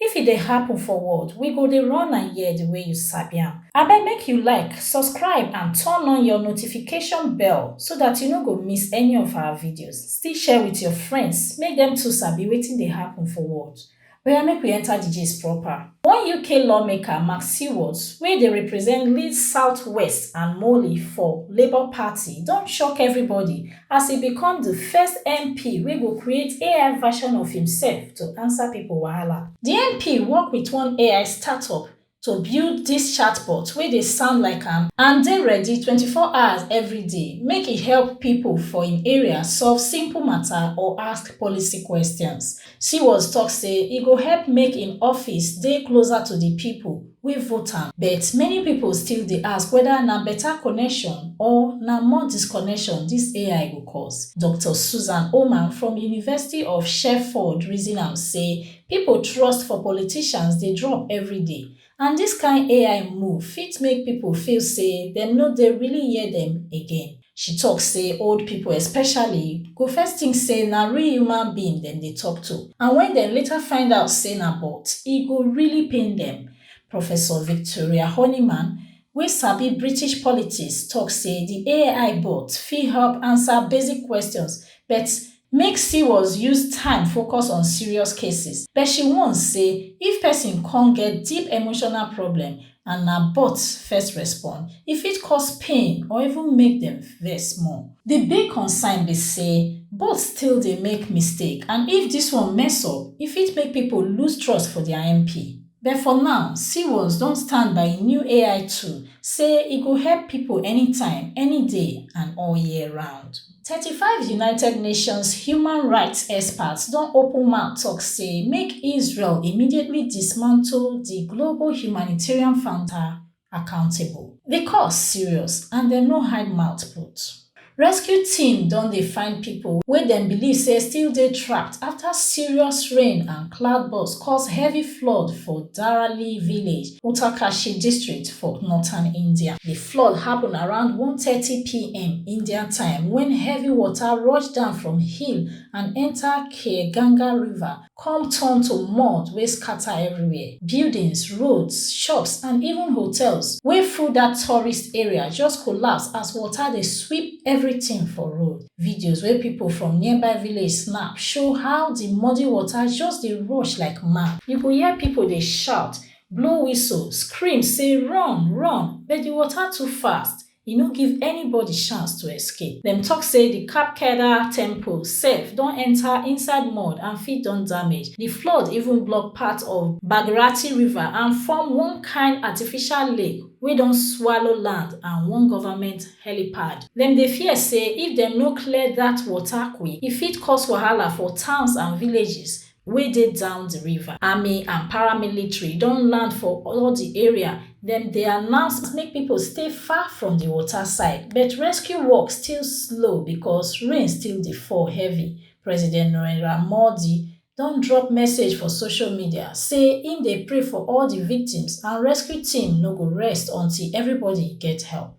If e dey happen for world we go dey run am here the way you sabi am. Abeg make you like, subscribe and turn on your notification bell so that you no go miss any of our videos, still share with your friends make dem too sabi wetin dey happen for world. Oya make we enter the gist proper. One UK lawmaker Mark Seward wey dey represent Leeds South West and Morley for Labour Party don shock everybody as e become di first MP wey go create AI version of imsef to ansa pipo wahala. Di MP work wit one AI startup to build dis chatbot wey dey sound like am and dey ready twenty four hours evri day make e help pipo for im area solve simple mata or ask policy questions. Siwaz tok say e go help make im office dey closer to di pipo wey vote am, but many pipo still dey ask weda na beta connection or na more disconnection dis ai go cause. Doctor Susan Oman from University of Sherford reason am say pipo trust for politicians dey drop everyday, And dis kain ai move fit make pipo feel say dem no dey really hear dem again. She tok say old pipo especially go first tink say na real human being dem dey tok to and wen dem later find out say na bot, e go really pain dem. Professor Victoria Horniman, wey sabi British politics, tok say di ai bot fit help ansa basic questions but Make CWOS use time focus on serious cases, but she warn say if pesin come get deep emotional problem and na bots first respond, e fit cause pain or even make dem vex more. Di big concern be say bots still dey make mistake and if dis one mess up, e fit make pipo lose trust for dia MP. But for now, CWOS don stand by im new AI tool, say e go help pipo anytime, any day and all year round. 35 united nations human rights experts don open mouth tok say make israel immediately dismantle di global humanitarian founder accountable di cause serious and dem no hide mouth put rescue team don dey find pipo wey dem believe say still dey trapped afta serious rain and cloudburst cause heavy flood for darali village uttarkashi district for northern india Flood happun around one thirty pm Indian time wen heavy water rush down from hill and enta Khyeganga River come turn to mud wey scata everywhere. Buildings, roads, shops and even hotels wey full dat tourist area just collapse as water dey sweep everytin for road. Videos wey pipo from nearby village snap show how di muddy water just dey rush like mad. You go hear pipo dey shout, blow whistle, scream say run, run, but di water too fast, e no give anybody chance to escape. Dem tok say di Kap Kedah Temple sef don enta inside mud and fit don damage. Di flood even block part of Bhagirathi River and form one kain artificial lake wey don swallow land and one government helipad. Dem dey fear say if dem no clear dat water quick, e fit cause wahala for towns and villages wey dey down di river. Army and paramilitary don land for all di area, dem dey announce make pipo stay far from di water side, but rescue work still slow because rain still dey fall heavy. President Narendra Modi don drop message for social media say im dey pray for all di victims and rescue team no go rest until everybody get help.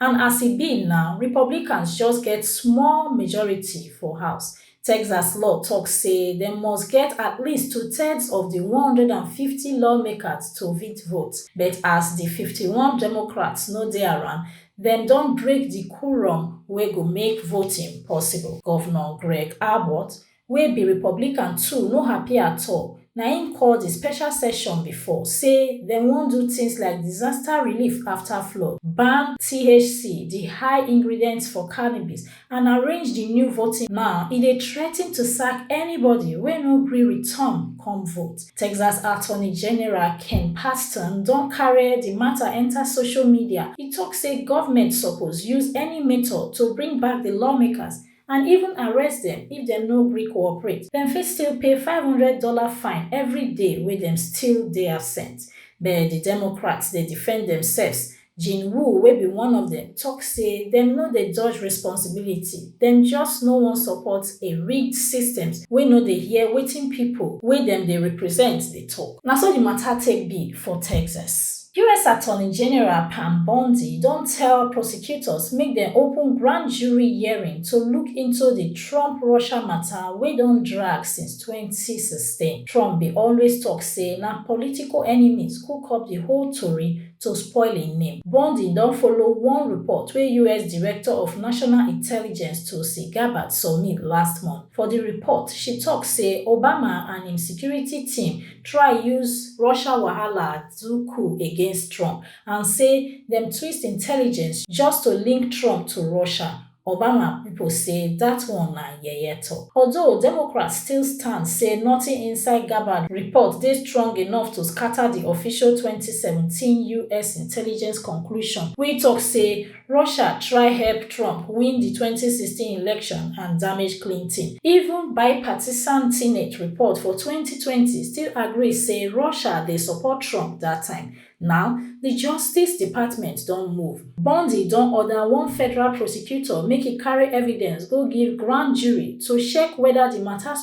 And as e be now, Republicans just get small majority for House. Texas law tok say dem must get at least two-thirds of di one hundred and fifty lawmakers to fit vote. But as di fifty one Democrats no dey around, dem don break di quorum wey go make voting possible. Govnor Greg Abbott wey be Republican too no happy at all, na im call di special session before say dem wan do tins like disaster relief afta flood, ban THC, di high ingredient for cannabis, and arrange di new voting. Now e dey threaten to sack anybody wey no gree return come vote. Texas Attorney General Ken Paxton don carry di mata enta social media, e tok say govment suppose use any method to bring back di lawmakers and even arrest dem if dem no gree cooperate. Dem fit still pay five hundred dollars fine every day wey dem still dey absent. But di Democrats dey defend demsefs. Jin Wu, wey be one of dem, tok say dem no dey dodge responsibility, dem just no wan support a rigged systems wey no dey hear wetin pipo wey dem dey represent dey tok. Na so di mata take be for Texas. us attorney general pam bondi don tell prosecutors make dem open grand jury hearing to look into di trump russia mata wey don drag since twenty sixteen trump bin always tok say na political enemies cook up di whole tori to spoil im name bondi don follow one report wey us director of national intelligence tulsi gabbard submit last month for di report she tok say obama and im security team try use russia wahala do coup against Trump and say dem twist intelligence just to link Trump to Russia, Obama pipo say dat one na yeye tok. Although Democrats still stand say nothing inside Gabbard report dey strong enough to scata di official twenty seventeen us intelligence conclusion wey tok say Russia try help Trump win di twenty sixteen election and damage Clinton. Even bipartisan Senate report for twenty twenty still agree say Russia dey support Trump dat time. Now, di Justice Department don move. Bondi don order one federal prosecutor make e carry evidence go give grand jury to check whether di matter.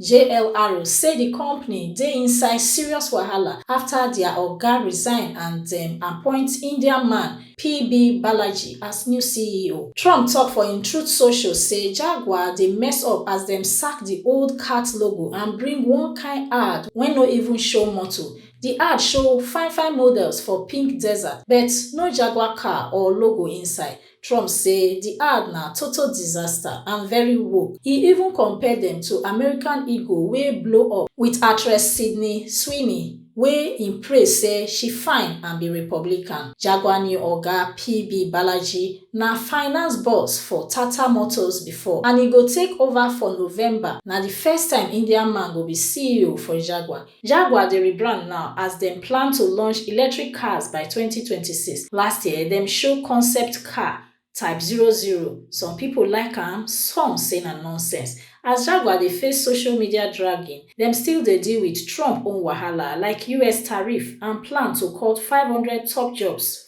JLR say di company dey inside serious wahala afta dia oga resign and dem appoint Indian man PB Balaji as new CEO. Trump tok for im Truth Social say Jaguar dey mess up as dem sack di old cat logo and bring one kain ad wey no even show motor. Di ad show fine-fine models for pink desert, but no Jaguar car or logo inside. Trump say di ad na total disaster and very woke, e even compare dem to American Eagle wey blow up wit actress Sydney Sweeney wey im praise say she fine and be Republican. Jaguar new oga, PB Balaji, na finance boss for Tata Motors before and e go take ova for November. Na di first time Indian man go be CEO for Jaguar. Jaguar dey rebrand now as dem plan to launch electric cars by twenty twenty six. Last year, dem show concept car, Type zero zero. Some pipo like am, some say na nonsense. As Jaguar dey face social media dragging, dem still dey deal wit Trump own wahala like us tariff and plan to cut five hundred top jobs.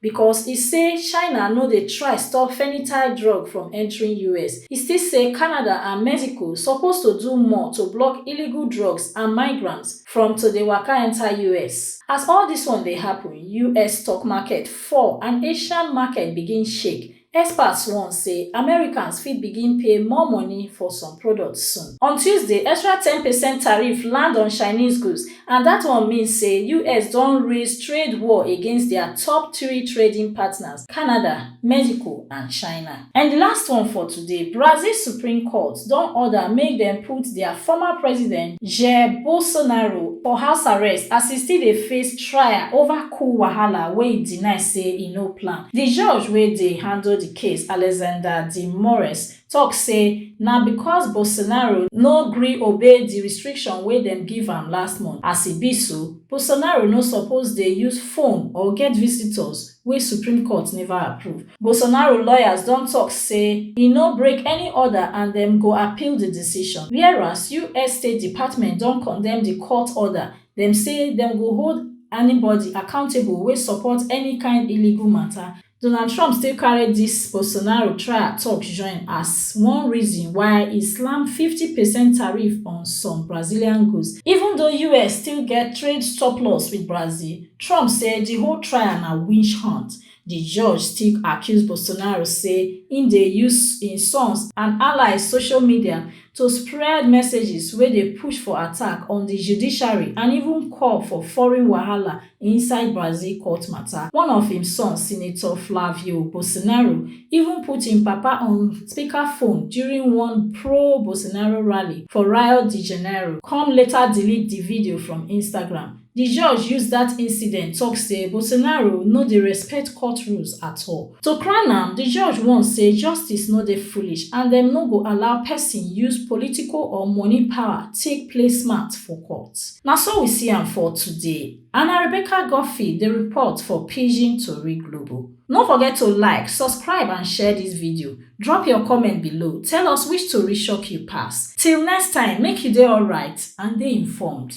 Because e say China no dey try stop fennytide drug from entering us, e still say Canada and Mexico suppose to do more to block illegal drugs and migrants from to dey waka enter us. As all dis one dey happen, us stock market fall and Asian market begin shake. Experts warn say Americans fit begin pay more money for some products soon. On Tuesday, extra ten percent tariff land on Chinese goods and dat one mean say us don raise trade war against dia top three trading partners, Canada, Mexico and China. And di last one for today, Brazil Supreme Court don order make dem put dia former president, Jair Bolsonaro, for house arrest as e still dey face trial over. coup wahala wey e deny say e no plan. Di judge wey dey handle di case, Alexander de Moraes, tok say na because Bolsonaro no gree obey di restriction wey dem give am last month. As e be so, Bolsonaro no suppose dey use phone or get visitors wey Supreme Court neva approve. Bolsonaro lawyers don tok say e no break any order and dem go appeal di decision, whereas us State Department don condemn di court order Dem say dem go hold anybody accountable wey support any kind illegal matter. Donald Trump still carry dis Bolsonaro trial talk join as one reason why e slam fifty percent tariff on some Brazilian goods. Even though us still get trade surplus with Brazil, Trump say di whole trial na witch hunt. Di judge still accuse Bolsonaro say im dey use im sons and allies social media to spread messages wey dey push for attack on di judiciary and even call for foreign wahala inside Brazil court mata. One of im sons, Senator Flavio Bolsonaro, even put im papa on speakerphone during one pro-Bolsonaro rally for Rio de Janeiro, come later delete di video from Instagram. Di judge use dat incident tok say Bolsonaro no dey respect court rules at all. To crown am, di judge warn say justice no dey foolish and dem no go allow pesin use political or money power take play smart for court. Na so we see am for today. Ana Rebecca Guffey dey report for Pidgin Tori Global. No forget to like, subscribe and share dis video. Drop your comment below, tell us which tori shock you pass. Till next time, make you dey alright and dey informed.